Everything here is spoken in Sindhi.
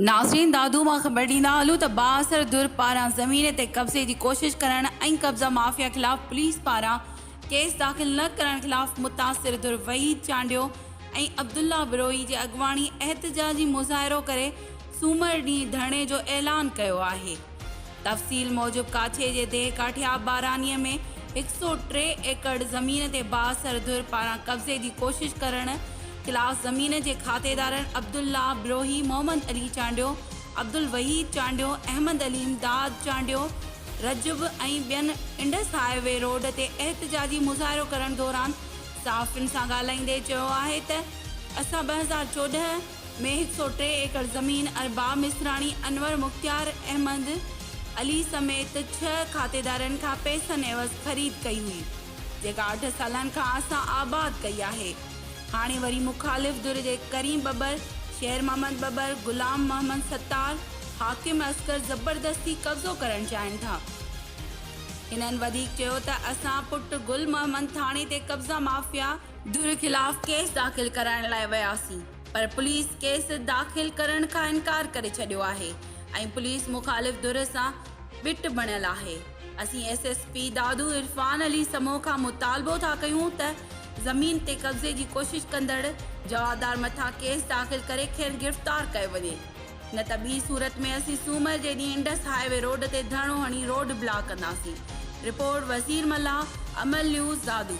ناظرين دادو مان خبر ڏيندا هلون ته بااثر ڌر پاران زمين تي قبضي جي ڪوشش ڪرڻ ۽ قبضا مافيا خلاف پوليس پاران ڪيس داخل نه ڪرڻ خلاف متاثر ڌر وحيد چانڊيو ۽ عبدالله بروهي جي اڳواڻي احتجاجي مظاهرو ڪري سومر ڏينهن ڌرڻي جو اعلان ڪيو آهي. تفصيل موجب ڪاڇي جي ديهه ڪاٺياب بارانيء ۾ هڪ سؤ ٽي ايڪڙ زمين تي بااثر ڌر پاران قبضي جي ڪوشش ڪرڻ خلاف زمين جي کاتيدارن عبدالله بروهي، محمد علي چانڊيو، عبدالوحيد چانڊيو، احمد علي امداد چانڊيو، رجب ۽ ٻين انڊس هاء وي روڊ تي احتجاجي مظاهرو ڪرڻ دوران صحافين سان ڳالهائيندي چيو آهي ته اسان ٻه هزار چوڏهن، ۾ هڪ سؤ ٽي ايڪڙ زمين ۽ با مصراڻي انور مختيار احمد علي سميت ڇهه کاتيدارن کان پئسن عيوض خريد ڪئي هئي جيڪا اٺ سالن کان اسان آباد ڪئي آهي هاڻي وري مخالف ڌر جي ڪريم ٻٻر، شير محمد ٻٻر، غلام محمد ستار، حاڪم اصغر زبردستي قبضو ڪرڻ چاهين ٿا. هنن وڌيڪ چيو ته اسان پٽ گل محمد ٿاڻي تي قبضا مافيا، ڌر خلاف ڪيس داخل ڪرائڻ لاء وياسين پر پوليس ڪيس داخل ڪرڻ کان انڪار ڪري ڇڏيو آهي ۽ پوليس مخالف ڌر سان ٻٽ بڻيل آهي اسين S S P Dadu Irfan Ali Samoon کان مطالبو ٿا ڪيون ته زمين تي قبضي جي ڪوشش ڪندڙ جوابدار مٿان ڪيس داخل ڪري کين گرفتار ڪيو وڃي. نه ته ٻي صورت ۾ اسين سومر جي ڏينهن انڊس هاء وي روڊ تي ڌرڻو هڻي روڊ بلاڪ ڪنداسين، رپورٽ وزير ملاح، امل نيوز، دادو.